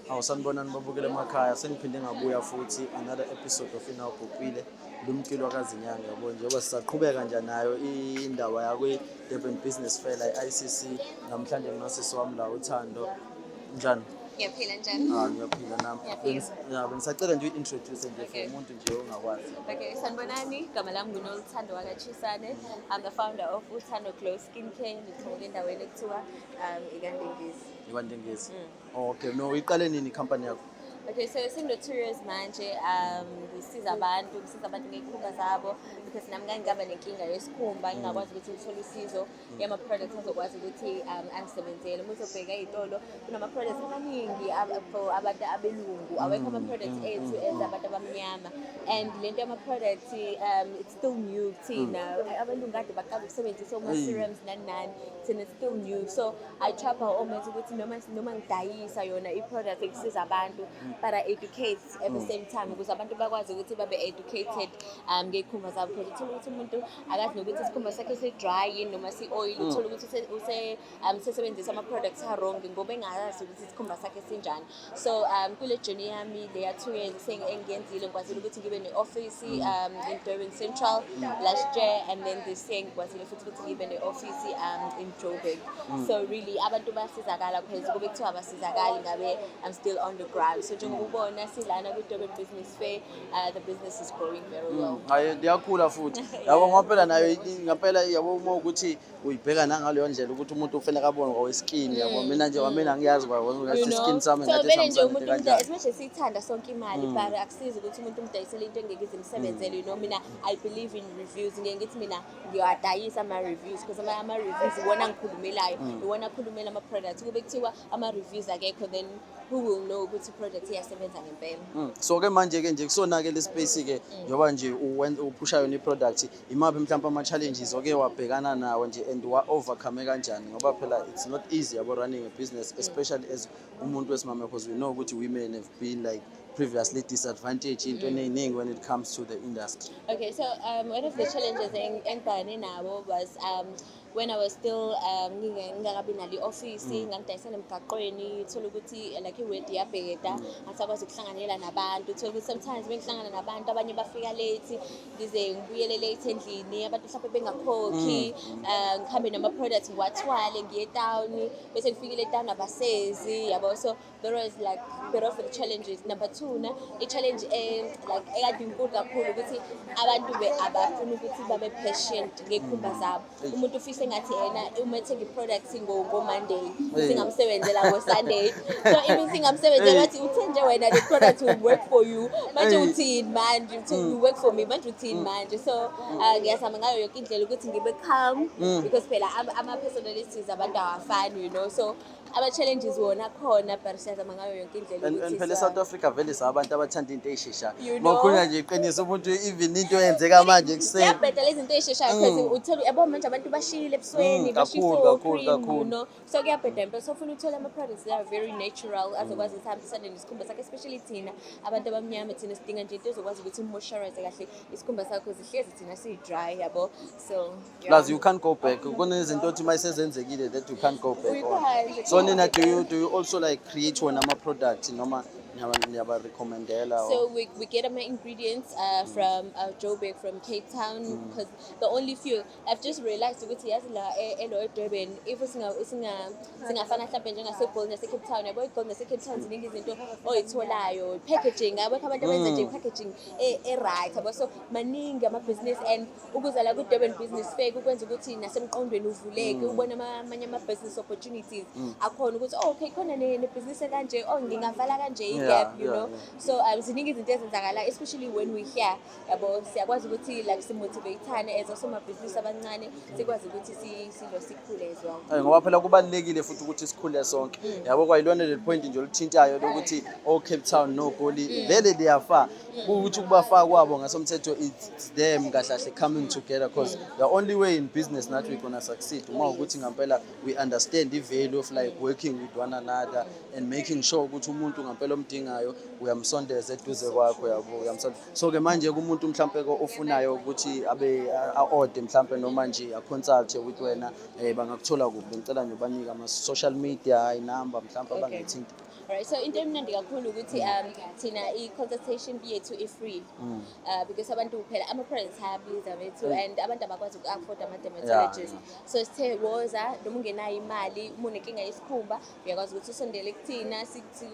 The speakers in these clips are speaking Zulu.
Hawu sanibonani babukele emakhaya sengiphinde ngabuya futhi another episode of Inawo Bhubhile lumkilwa kazinyanga yabo njengoba sisaqhubeka nje nayo indaba yakwi Durban Business Fair la ICC namhlanje nginosisi wami la uThando njani ngiyaphila njani ah ngiyaphila nami ya bengisacela nje introduce nje for umuntu nje ongakwazi okay sanibonani igama lami nguNoluthando wakachisane i'm the founder of Uthando Glow Skincare ngithole endaweni ekuthiwa um ikandengezi ikandengezi mm. Okay, no iqale nini company yakho? Okay, so sino two years manje um ngisiza abantu ngisiza abantu ngezikhumba zabo because nami ngake ngaba nenkinga yesikhumba ngingakwazi ukuthi ngithole usizo yama products azokwazi ukuthi um angisebenzele uma uzobheka izitolo kunama products amaningi ab- for abantu abelungu awekho ama products ethu as abantu abamnyama and lento yama products um it's still new thina mm. abantu ngikade baqala ukusebenzisa oma-serums nani nani thina still new so i try by all means ukuthi noma noma ngidayisa yona i-product ekusiza abantu mm. but i educate at the mm. same time ukuze abantu bakwazi ukuthi babe educated um ngey'khumba zabo because uthole ukuthi umuntu akazi nokuthi isikhumba sakhe si-dry yini noma si-oil uthole ukuthi um, sesebenzisa ama-products a-wrong ngoba engayazi ukuthi isikhumba sakhe sinjani so um kule journey yami le yathungeni sengiyenzile ngikwazile ukuthi ngibe ne-ofisi um in durban central last year and then this year ngikwazile futhi ukuthi ngibe ne-ofisi um in joburg mm. so really abantu basizakala because kube kuthiwa basizakali ngabe i'm still on the ground so njengoba ubona silana kwi-durban business fair uh, the business is growing very mm. well hayi liyakhula futhi yabo ngampela nayo ngampela yabo uma ukuthi uyibheka nangaleyo ndlela ukuthi umuntu ufuna kabone ngoweskin mm, yabo mina nje wamina mm. ngiyazi kwathi iskin sami ngathi nje umuntu umdayisa especially siyithanda sonke imali mm. but akusizi ukuthi umuntu umdayisele into engeke izimsebenzele you know mina i believe in reviews ngeke ngithi mina ngiyawadayisa ama reviews because ama, ama reviews iwona ngikhulumelayo iwona akhulumela ama products kube kuthiwa ama reviews akekho then who will know ukuthi project iyasebenza ngempela so ke manje ke nje kusona ke le space ke njoba nje uphusha yona i product Imaphi mhlawumbe ama-challenges oke wabhekana nawo nje and wa-overcome kanjani ngoba phela it's not easy yabo running a business especially as umuntu wesimame because we know ukuthi women have been like previously disadvantaged into eningi when it comes to the industry okay so um, one of the challenges engibhekane nabo was um, when I was still um, ngingakabi nalo i-ofisi mm. ngangidayisela emgaqweni thole ukuthi eh, like iwedi yabheda mm. angisakwazi ukuhlanganyela nabantu thole ukuthi sometimes bengihlangana nabantu abanye bafika late ngize ngibuyele late endlini abantu mhlawumbe bengakhokhi mm. eh, ngihambe nama-products ngiwathwale ngiye etawuni bese ngifikile etawuni abasezi yabo so there was like bit of the challenges number two na i-challenge eh, like ekade inkulu kakhulu ukuthi abantu be abafuna ukuthi babe patient ngey'khumba mm. zabo umuntu ufise engathi yena uma ethenga i-product ngomonday singamsebenzela ngosunday so even singamsebenzela bathi uthe nje wena the product will work for you manje uthini manje uthi mm. you work for me manje uthini mm. manje so ah, ngiyazama ngayo yoke indlela ukuthi ngibe calm because phela ama-personalities abantu awafani you know so Aba challenges wona khona but siyazama ngayo yonke indlela And- and ukuthi phela sa- e-south africa vele sabantu abathanda into eyisheshayo You know. ngokhulunywa nje iqiniso umuntu even into eyenzeka manje ekuseni Ziyabheda lezi zinto ey'sheshayo because uthola yabo manje abantu bashile ebusweni Mm, bashiye kakhulu, kakhulu, i-cream, you kakhulu. know. so kuyabheda impela so ufuna uthole ama-products that are very natural azokwazi ukuthi ahambisane nesikhumba sakho especially thina abantu abamnyama thina sidinga nje into ezokwazi ukuthi umoisturize kahle isikhumba sakho zihlezi thina siyi-dry yabo so plus you can't go back kunezinto othi uma isezenzekile that you can't go back on so nina do you, do you also like create wona ama-product noma niyabarecommendela so we, we get my ingredients uh, from uh, joburg from cape town mm. because mm. the only few i've just realized ukuthi yazi la e, elo edurban if singafana mhlawumbe njengasegolden yasecape town yabo igolden yasecape town ziningi izinto oyitholayo packaging abekho abantu abenza nje mm. packaging e-right yabo so maningi amabhizinisi and ukuza la kwi-durban business fair kukwenza ukuthi nasemqondweni uvuleke mm. ubone amanye ama-business opportunities mm. akhona ukuthi oh, okay khona nebhizinisi ekanje o oh, ngingavala kanje i-gap you know so um, ziningi izinto ezenzakala especially when we here yabo siyakwazi ukuthi like simotivate-ane as osomabhizinisi abancane sikwazi ukuthi silo sikhule as well eh, ngoba phela kubalulekile futhi ukuthi sikhule sonke mm. yabo kwayilona leli point nje oluthintayo lokuthi o-cape oh, town nogoli vele liyafa ukuthi ukubafaka kwabo ngasomthetho it's them kahlahle coming together because the only way in business that we gonna succeed uma ukuthi ngampela we understand the value of like working with one another and making sure ukuthi umuntu ngampela omdingayo uyamsondeza eduze kwakho yabo uyamsondeza so ke manje kumuntu mhlampe ofunayo ukuthi abe aode mhlampe noma nje a consult with wena eh bangakuthola kuphi ngicela nje banika ama social media i number mhlampe abangayithinta Right, so into emnandi kakhulu ukuthi um thina i-consultation yethu i-free mm. uh, because abantu phela ama-parents ayabiza bethu mm. and abantu abakwazi uku-afford ama-dermatologist so sithe woza noma ungenayo imali uma unenkinga yesikhumba uyakwazi ukuthi usondele kuthina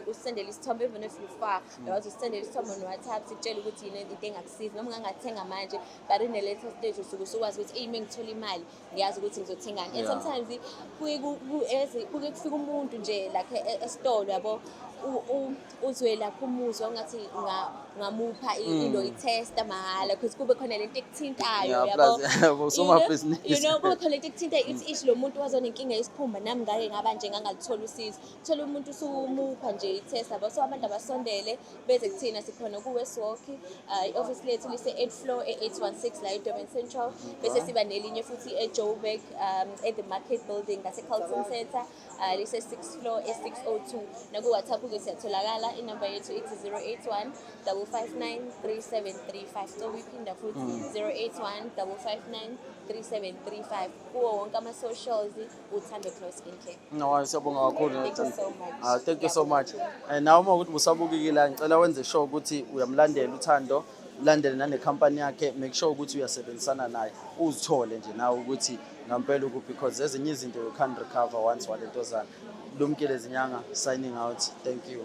usendele isithombe even if you far mm. uyakwazi usendele isithombe no-whatsapp sikutshele ukuthi yini into engakusiza noma ungangathenga manje but in the later stage usuke usukwazi ukuthi eyi uma ngithola imali ngiyazi ukuthi ngizothengani and Yeah. sometimes kuye ku- ku- as- kuke kufika umuntu nje like e- e- esitolo yabo u- u- uzwe lakho umuzwa ungathi nga- ngamupha i- Mm. ilo itesta mahhala because kube khona lento ekuthintayo Yeah, yabo plus, yabo, You know- somabhizinisi. you know kube khona lento ekuthintayo ithi ishi lo muntu wazonenkinga yesikhumba nami ngake ngaba nje ngangalithola usizo thola umuntu usumupha nje i-test abo so abantu abasondele beze kuthina sikhona ku-westwalk uh, i-office lethu lise-eight floor e-816 la edurban central bese siba nelinye futhi ejoburg um, at the market building ngasecarlton center uh, lise-six floor e-602 nakuwhatsapp-ke siyatholakala inumber yethu ithi 081 559 3735 so uyiphinda futhi 081 559 3735 kuwo wonke ama-socials uthando Glow Skin Care. No, siyabonga kakhulu. Thank you so much. Ah, thank you so much. Eh nawe uma ukuthi busabukikile ngicela wenze sure ukuthi uyamlandela uthando, landele nane company yakhe, make sure ukuthi uyasebenzisana naye. Uzithole nje nawe ukuthi ngampela ukuphi because ezinye izinto you can't recover once walentozana. Lumkile zinyanga signing out. Thank you.